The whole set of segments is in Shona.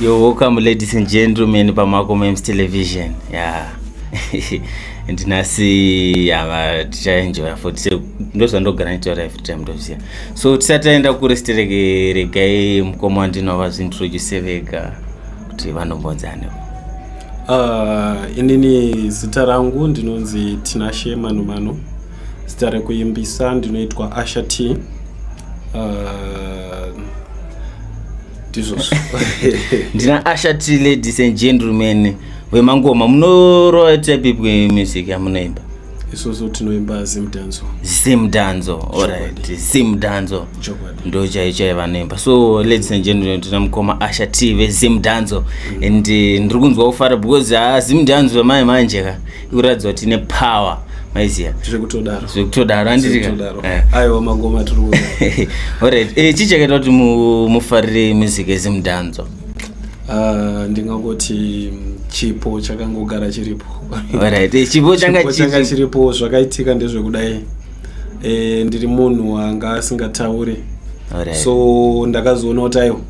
You're welcome, ladies and gentlemen, Pamako Memes Television. Yeah. and nasi yava tichaenjoya futi se ndozvandogara nitaura every time ndoziva so tisati taenda kuresti rege regai mukoma wandinova zvintroduce vega kuti vanombonzani uh, inini zita rangu ndinonzi tinashe manomano zita rekuimbisa ndinoitwa asha t uh, ndizvozvo ndina asha t ladies and gentlemen vemangoma munoroa type music yamunoimba isusu tinoimba zimdanzo zimdanzo orit zimdanzo ndo chai chai vanoimba so ladies and gentlemen tina mukoma asha t vezimdanzo mm. and eh, ndiri kunzwa kufara because ha ah, zimdanzo vamai manje ka kuratidza kuti tine power maiziva zvekutodaro zvekutodaro andiaiwa eh. mangoma tiri orit eh, chii chakaita kuti mufarire music ezimudhanzo ah, ndingangoti mm, chipo chakangogara chiripo orit eh, chipo changa chiripo zvakaitika ndezvekudai ndiri munhu anga asingataure so ndakazoona kuti aiwa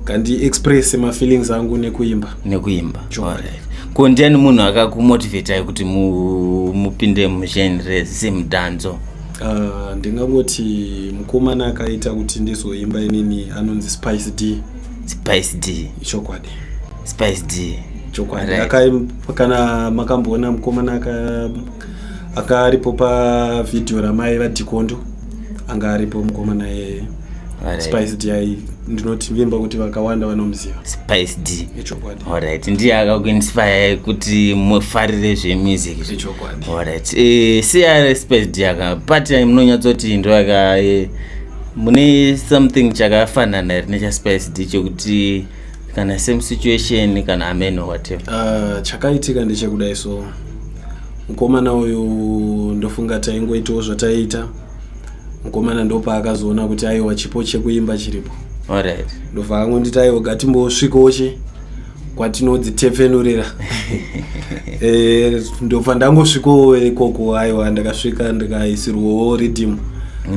kandi express mafeelings angu nekuimba nekuimba right. ko ndiani munhu akakumotivatai kuti mupinde mugen re semudhanzo uh, ndingangoti mukomana akaita kuti ndizoimba inini anonzi spice d spice d chokwadi spice d chokwadi right. kana makamboona mukomana aka akaripo pavhidhiyo ramai vadhikondo anga aripo mukomana yeye spice d ai ndinoti vimba kuti vakawanda vanomuziva spice d ichokwadi alright ndiye akakuinspire kuti mufarire zvemusic ichokwadi alright eh, siya spice d aka part munonyatsoti ndo aka eh, mune something chakafanana here nechaspice d chekuti kana same situation kana amen or whatever uh, chakaitika ndechekudai so mukomana uyu ndofunga taingoitawo zvataiita mukomana ndopaakazoona kuti aiwa chipo chekuimba chiripo alright ndobva angonditi aiwa gatimbosvikawo che kwatinodzitepfenurira Eh, ndobva ndangosvikawo ikoko aiwa ndakasvika ndikaisirwawo riddim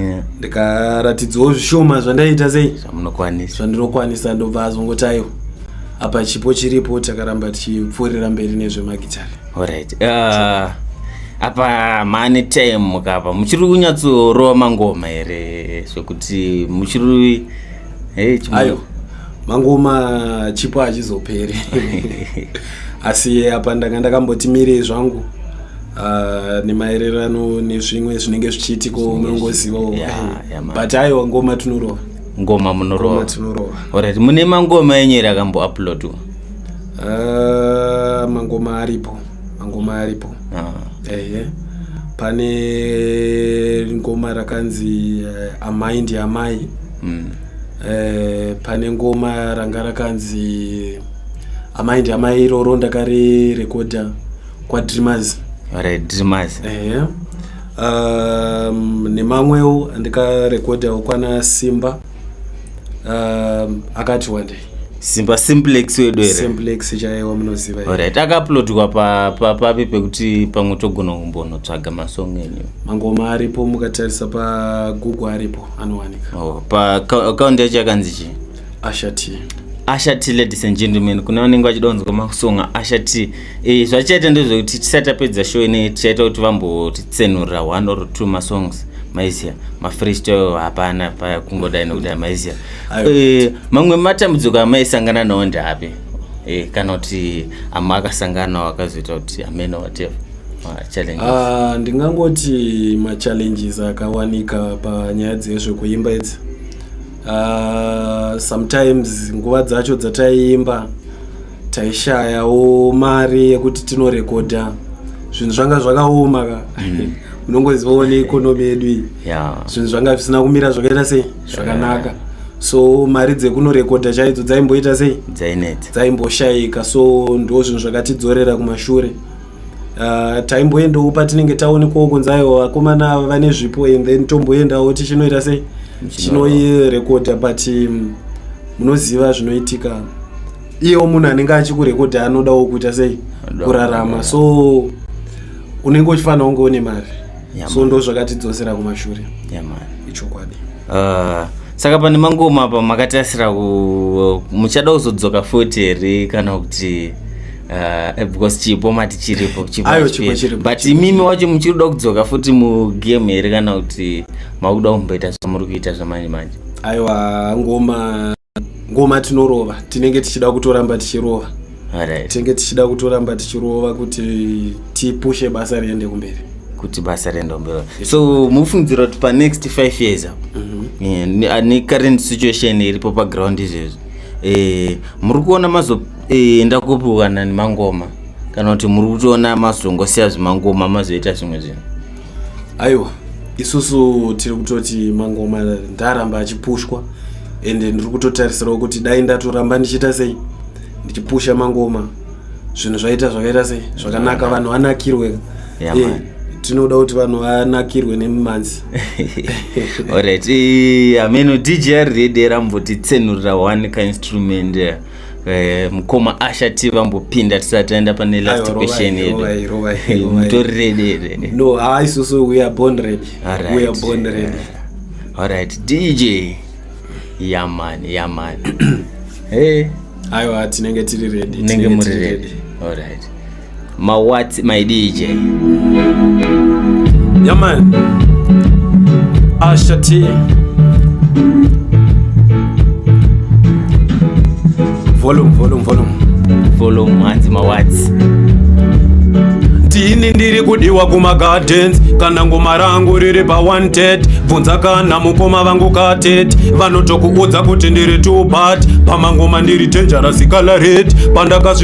Yeah. ndikaratidzwawo zvishoma zvandaita sei zvamunokwanisa zvandinokwanisa ndobva azongoti aiwa apa chipo chiripo takaramba tichipfuurira mberi nezvemagitare Alright. Uh, apa mane time mukapa muchiri kunyatsorova mangoma here zvekuti muchiri hey, ayo mangoma chipo hachizoperi asi apa ndanga ndakamboti mirei zvangu uh, nemaererano nezvimwe zvinenge zvichiitiko munongozivawo yeah, yeah, but ayo ngoma tinorova ngoma munorovaorati mune mangoma enyu ere akambouploadwa uh, mangoma aripo mangoma aripo uh ah. -huh. eh, yeah pane ngoma rakanzi uh, amai ndi amai mm. uh, pane ngoma ranga rakanzi amai ndi amai iroro ndakarirekodha kwadreamers right, dreamers uh, um, nemamwewo andikarekodhawo kwana simba um, akati wandei simba simplex wedu here simplex chaiwa munoziva here? alright akauploadwa pa- pa- papi pekuti pamwe togona kumbonotsvaga masong enyu mangoma aripo mukatarisa pagoogle aripo anowanika oh, pa ka- account yacho yakanzi chii ashati asha t ladies and gentlemen kune vanenge vachida kunzwa masong asha t e, zvachaita ndezvekuti tisati tapedza show ine tichaita kuti vambotitsenurira one or two masongs maizia mafreestyle hapana pakungodai nekuti maizia e, mamwe matambudziko amaisangana nawo ndeapi e, kana kuti ama akasangana nawo akazoita kuti amena whatever ah, ndingangoti machallenges akawanika panyaya dzezvekuimba idzi ah, sometimes nguva dzacho dzataiimba taishayawo mari yekuti tinorekodha zvinhu zvanga zvakaoma ka mm. unongozivawo neekonomi yedu iyi zvinhu zvanga zvisina kumira zvakaita sei zvakanaka so mari dzekunorekodha chaidzo dzaimboita sei dzaimboshayika so ndo zvinhu zvakatidzorera kumashure Ah, taimboendawo patinenge taonekwawo kunzi aiwa vakomana ava vane zvipo and then tomboendawo tichinoita sei chinoirekodha but mm, munoziva zvinoitika iyewo munhu anenge achikurekodhi anodawo kuita sei kurarama so unenge uchifanira kunge une mari so ndo zvakatidzosera kumashure ichokwadi ah, saka pane mangoma apa makatasira muchada kuzodzoka futi here kana kuti ah, eh, because chipo mati chiripo but imimi wacho muchiri kuda kudzoka futi mugame here kana kuti makuda kumboita zvamuri kuita zvamanje manje aiwa ngoma ngoma tinorova tinenge tichida kutoramba tichirova right. tinenge tichida kutoramba tichirova kuti tipushe basa riende kumberi kuti basa riende kumberi so mufungidzira kuti panext five years apo mm -hmm. yeah, necurrent situation iripo paground izvezvi eh, muri kuona mazoenda eh, kupiwa nani mangoma kana kuti muri kutoona mazongosiya zvimangoma mazoita zvimwe zvinhu aiwa isusu tiri kutoti mangoma ndaramba achipushwa ende ndiri kutotarisirawo kuti dai ndatoramba ndichiita sei ndichipusha mangoma zvinhu zvaita zvakaita sei zvakanaka vanhu vanakirwe yeah, eh, tinoda kuti vanhu vanakirwe nemumanzi orit ameno djr redera mbotitsenurira one kainstrument yeah. Eh, mukoma asha ti vambopinda tisati taenda pane last question yedumutorirededalright dj yaman yaman aiwa tinenge tiri redi tinenge muri redi alright Ma what my DJ. Yeah man. Asha T. Volume, volume, volume. Volume hanzi ma what. Tini ndiri kudiwa kuma gardens kana ngoma rangu riri pa wanted bvunza kana mukoma vangu katet vanotokuudza kuti ndiri two part pamangoma ndiri dangerous color red pandakasvika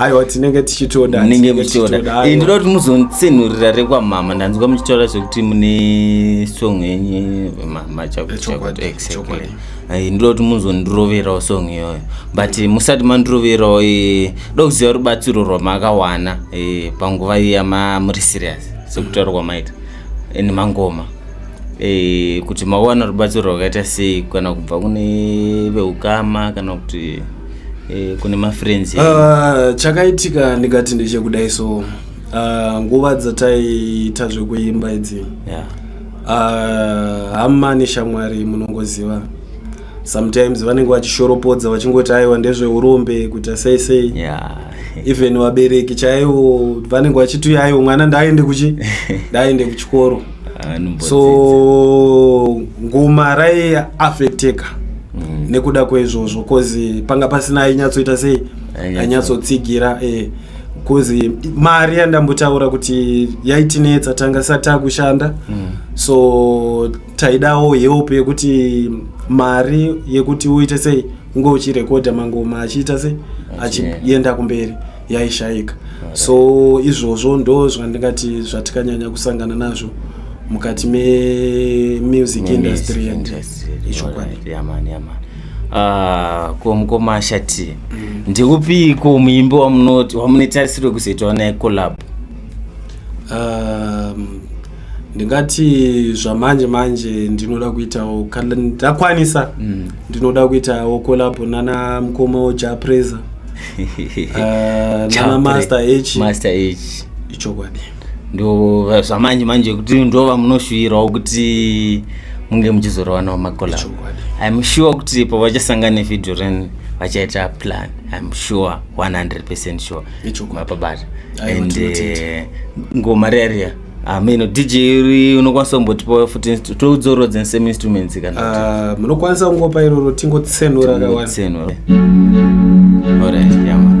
aiwa tinenge tichitoda nenge muchitoda ndinoda kuti muzonitsenhurira rekwamama ndanzwa muchitaura zvekuti mune song yenyu ndinoda kuti muzondiroverawo song iyoyo but musati mandiroverawo eh, da kuziva rubatsiro rwamakawana eh, panguva iya mamuri serious sekutaura kwamaita and mangoma eh, kuti mawana rubatsiro rwakaita sei kana kubva kune veukama kana kuti eh, kune mafriends uh, chakaitika ndikati ndechekudai so uh, nguva dzataiita zvekuimba idzi yeah. uh, hama neshamwari munongoziva sometimes vanenge vachishoropodza vachingoti aiwa ndezveurombe kuita sei sei yeah. even vabereki chaivo vanenge vachiti aiwo mwana ndaaende kuchi ndaaende kuchikoro so ngoma raiaffecteka mm. nekuda kweizvozvo bcause panga pasina ainyatsoita sei ainyatsotsigira eh, bcause mari yandambotaura kuti yaitinetsa tanga sati takushanda mm. so taidawo help yekuti mari yekuti uite sei unge uchirekodha mangoma achiita sei achienda kumberi yaishaika so izvozvo ndo zvandingati zvatikanyanya kusangana nazvo mukati memusic industry and ichokwadi ah, ko mukoma ashati mm. ndiupiiko muimbi wamunoti wamunetarisiro kuzoitawo naye collab um, ndingati zvamanje manje ndinoda kuitawo kana ndakwanisa mm. ndinoda kuitawo kolabo nana mukoma wojapresa uh, ah, nana master h master h ichokwadi ndo zvamanje manje kuti ndova munoshuwirawo kuti munge muchizorovanawo makolabo im sure kuti pavachasangana nevideo reni vachaita plan im sure 100 percent sure mapabata and eh, ngoma reria ameno ah, dj uri unokwanisa kumbotipa futi toudzorodzeni same instruments kana ah, munokwanisa kungopa iroro tingotsenura kawanitsenura orit yama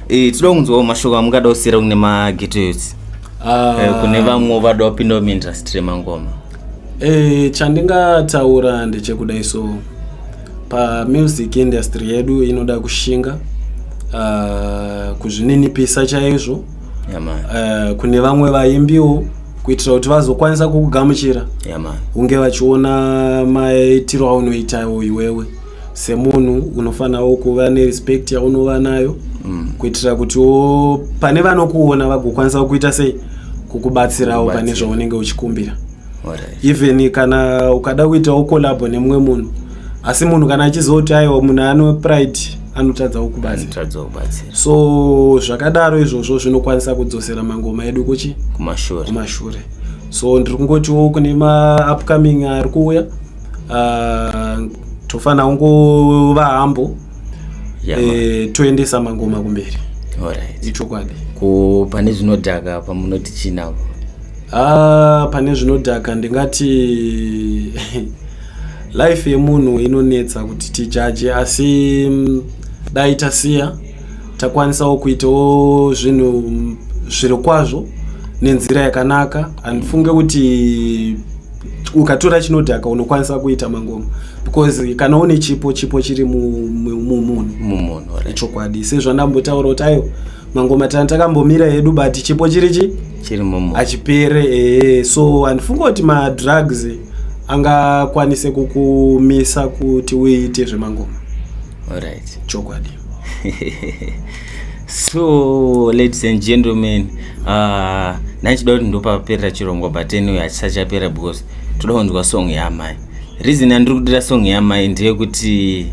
Eh, tinoda kunzwawo mashoko amungada kusiyira kune magetoyotsi ah. eh, kune vamwe vada wapindawo muindustry yemangoma eh, chandingataura ndechekudai so pamusic industry yedu inoda kushinga ah, kuzvininipisa chaizvo eh, kune vamwe vaimbiwo kuitira kuti vazokwanisa kukugamuchira hunge vachiona maitiro aunoitawo iwewe semunhu unofanirawo kuva nerespect yaunova nayo mm. kuitira kuti pane vanokuona vagokwanisa kuita sei kukubatsirawo pane zvaunenge uchikumbira even kana ukada kuitawo kolabo nemumwe munhu asi munhu kana achizoti aiwa munhu ano pride anotadza kukubatsira so zvakadaro izvozvo zvinokwanisa kudzosera mangoma edu kuchi kumashure so ndiri kungotiwo kune maupcoming ari kuuya uh, tofanira kungova hambo yeah, e, toendesa mangoma kumberi right. ichokwadi ko pane zvinodhaka pamunoti chinapo ah, pane zvinodhaka ndingati life yemunhu inonetsa kuti tijaje asi mm, dai tasiya takwanisawo kuitawo zvinhu mm, zviri kwazvo nenzira yakanaka handifunge kuti ukatora chinodhaka unokwanisa kuita mangoma because kana une chipo chipo chiri mumunhu ichokwadi sezvandambotaura kuti ayo mangoma tana takambomira hedu but chipo chiri chi hachipere ee so handifunga kuti madrugs angakwanise kukumisa kuti uite zvemangoma chokwadi so ladies and gentlemen uh, naichida kuti ndopaperera chirongwa but anyway hachisachapera because toda kunzwa song yamai reason yandiri kudira song yamai ndeyekuti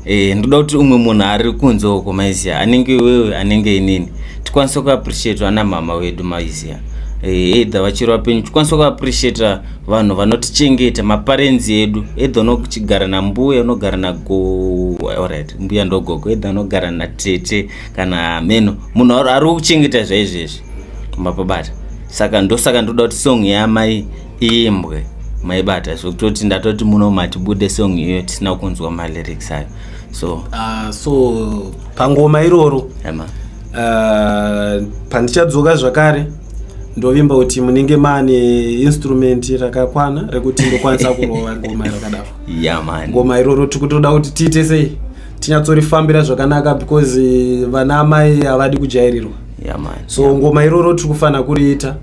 eh, ndoda kuti umwe munhu ari kunze uko maizia anenge wewe anenge inini tikwanise kuappreciata ana mama wedu maizia eh, either vachiri vapenyu tikwanise kuappreciata vanhu vanotichengeta maparenzi edu edha unogara nambuya unogara nagorit mbuya ndogogo edha unogara natete kana ameno munhu ari kuchengeta zvaizvezvi mapabata saka ndosaka ndoda kuti song yamai imbwe maibata zvekutoti ndatoti muno matibude song iyoyo tisina kunzwa malyrics ayo so uh, so pangoma iroro yeah, uh, pandichadzoka zvakare ndovimba kuti munenge maane instrument rakakwana rekuti ndokwanisa kurova ngoma rakadaro yeah, man. ngoma iroro tiri kutoda kuti tiite sei tinyatsorifambira zvakanaka because eh, vana amai havadi kujairirwa yeah, man. so yeah. ngoma iroro tiri kufanira kuriita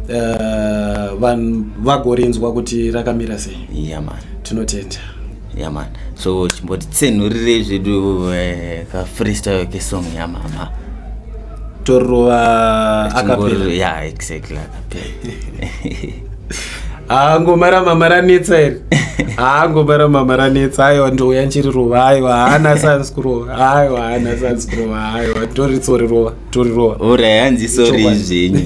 uh, vanhu vagorinzwa kuti rakamira sei yeah, man. tinotenda yaman so chimbotitsenhurirei zvedu eh, kafreestyle kesong yamama torova akapera ya exactly akapera haa ngoma ramama ranetsa iri haa ngoma ramama ranetsa aiwa ndouya nchiri rova aiwa haana sans kurova aiwa haana sans kurova aiwa ndoritsorirova torirova ora yanzi sori zvenyu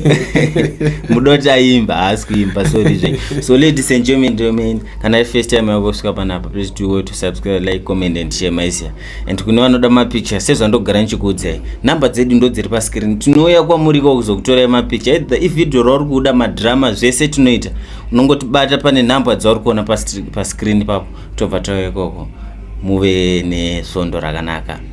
mudoti aimba haasi kuimba sori zvenyu so ladies and gentlemen domain kana first time yako kusvika panapa please do well to subscribe like comment and share maisia and kune vanoda mapicture sezvandogara ndichikuudzai number dzedu ndo dziri pascreen tinouya kwamuri ko kuzokutorai mapicture either ivideo rauri kuda madrama zvese tinoita unongotibata pane number dzauri kuona pascreen papo tobva tauya ikoko muve nesvondo rakanaka